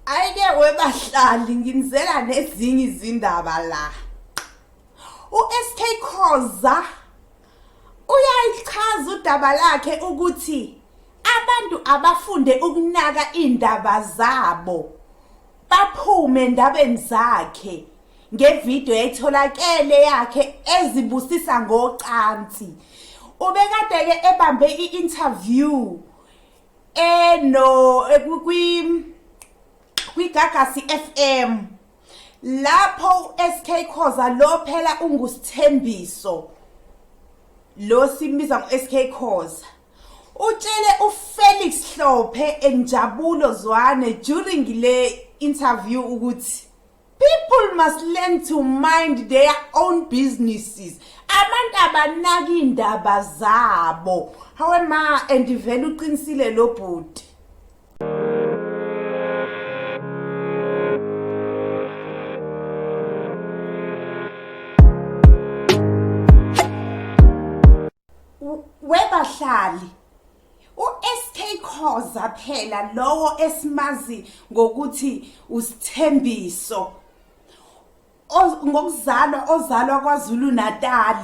ayike webahlali nginizela nezinye izindaba la uSK Khoza uyayichaza udaba lakhe ukuthi abantu abafunde ukunaka indaba zabo baphume endabeni zakhe ngevideo etholakele yakhe ezibusisa ngocansi ubekade-ke ebambe i-interview eh no eh, kwi kwigagasi FM lapho uSK Khoza lo phela ungusithembiso lo simbiza ngoSK Khoza utshele uFelix Hlophe enjabulo zwane during le interview ukuthi People must learn to mind their own businesses. Abantu abanaki indaba zabo. Hawe ma and vele uqinisile lo bhuti. Webahlali uSK Khoza phela lowo esimazi ngokuthi usithembiso ngokuzalwa ozalwa kwaZulu Natal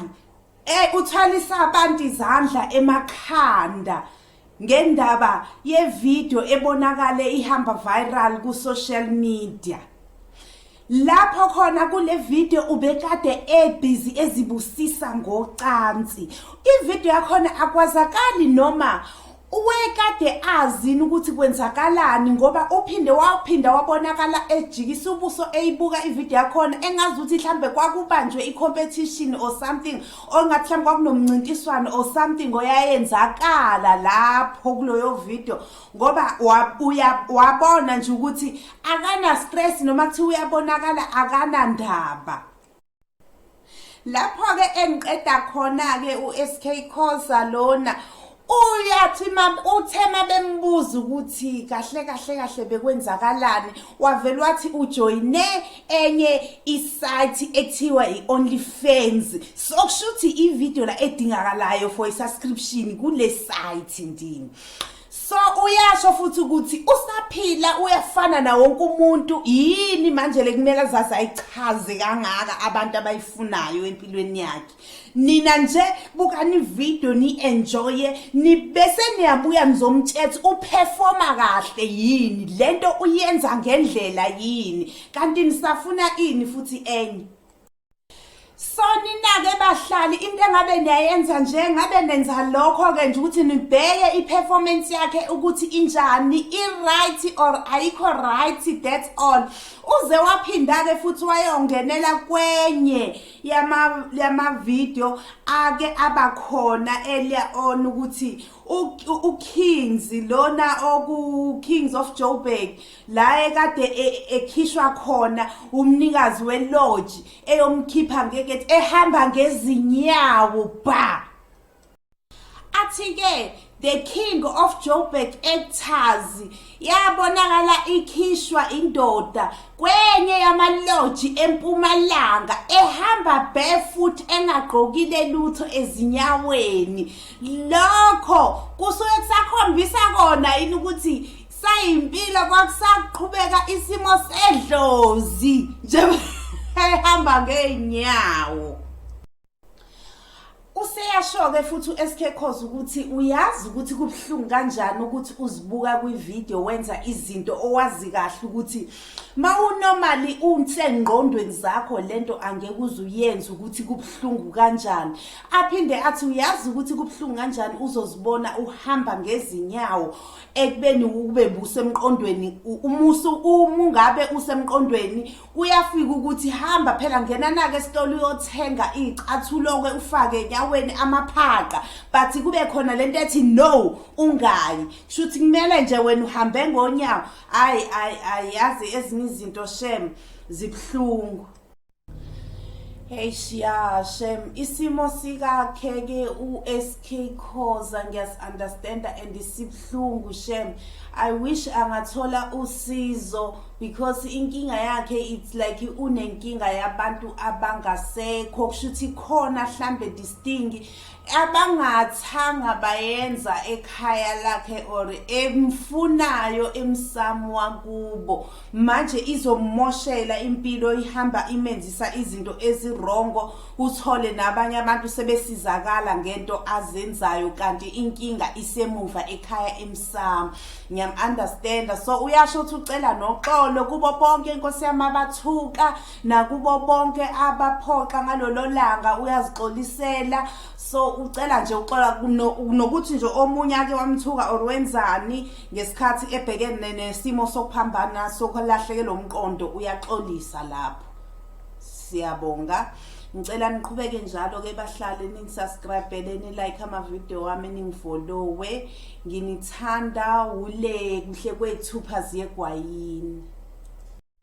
eh uthwalisa abantu izandla emakhanda ngendaba yevideo ebonakale ihamba viral ku social media Lapho khona kule video ubekade ebhizi ezibusisa ngocansi. Ivideo yakhona akwazakali noma wekade azini ukuthi kwenzakalani ngoba uphinde waphinda wabonakala ejikisa ubuso eyibuka ivideo yakhona engazi ukuthi mhlambe kwakubanjwe i-competition or something or ngathi mhlawumbe kwakunomncintiswano or something oyayenzakala lapho kuloyo video ngoba wabona nje ukuthi akana stress noma kuthiwa uyabonakala akana ndaba lapho ke engiqeda khona ke uSK Khoza lona uyathi mama uthe mabembuza ukuthi kahle kahle kahle bekwenzakalani wavela wathi ujoyine enye isite ekuthiwa i-only fans sokusho ukuthi ividiyo la edingakalayo for i-subscription kule site ndini so uyasho futhi ukuthi usaphila uyafana na wonke umuntu yini manje le kumele azazi ayichaze kangaka abantu abayifunayo empilweni yakhe nina nje bukani video ni enjoye ni bese niyabuya nizomtshetha uperforma kahle yini lento uyenza ngendlela yini kanti nisafuna ini futhi enye Soninake bahlali into engabe niyayenza nje ngabe nenza lokho ke nje ukuthi nibheke iperformance yakhe ukuthi injani i right or ayikho right that's all uze waphinda ke futhi wayongenela kwenye yama yama video ake abakhona earlier on ukuthi uKings lona oku Kings of Joburg la ekade e, e, ekhishwa khona umnikazi welodge eyomkhipha ngekethi ehamba ngezinyawo ba athi-ke the king of joburg actors yabonakala ikhishwa indoda kwenye yamaloji empumalanga ehamba barefoot engagqokile lutho ezinyaweni lokho kusuke kusakhombisa kona yini ukuthi sayimpilo kwakusaqhubeka isimo sedlozi njehamba ngeenyawo useyasho-ke futhi u-sk cause ukuthi uyazi ukuthi kubuhlungu kanjani ukuthi uzibuka kwividiyo wenza izinto owazi kahle ukuthi ma unomali unsengqondweni zakho le nto angeke uze uyenze ukuthi kubuhlungu kanjani aphinde athi uyazi ukuthi kubuhlungu kanjani uzozibona uhamba ngezinyawo ekubeni ukube busemqondweni umusu uma ungabe usemqondweni kuyafika ukuthi hamba phela ngena nake esitolo uyothenga icathuloke ufake enyaweni amaphaqa but kube khona lento ethi no ungayi shuthi kumele nje wena uhambe ngonyawo hayi hayi yazi ezinye izinto shem zibuhlungu Hey shiya shem isimo sikakhe ke uSK Khoza ngiyas understand and isibhlungu shem I wish angathola usizo because inkinga yakhe it's like unenkinga yabantu abangasekho kushuthi khona hlambe distingi abangathanga bayenza ekhaya lakhe or emfunayo emsamo wakubo manje izomoshela impilo ihamba imenzisa izinto ezirongo uthole nabanye abantu sebesizakala ngento azenzayo kanti inkinga isemuva ekhaya emsamo ngiyam understand so uyasho ukuthi ucela noxolo kubo bonke inkosi yamabathuka nakubo bonke abaphoxa ngalolo langa uyazixolisela so ucela nje uxola nokuthi nje omunye ake wamthuka or wenzani ngesikhathi ebhekene nesimo sokuphambana sokulahleke lo mqondo uyaxolisa lapho siyabonga ngicela niqhubeke njalo ke bahlale ningisubscribele nilike amavidiyo wami ningifolowe nginithanda wule kuhle kwethu phazi yegwayini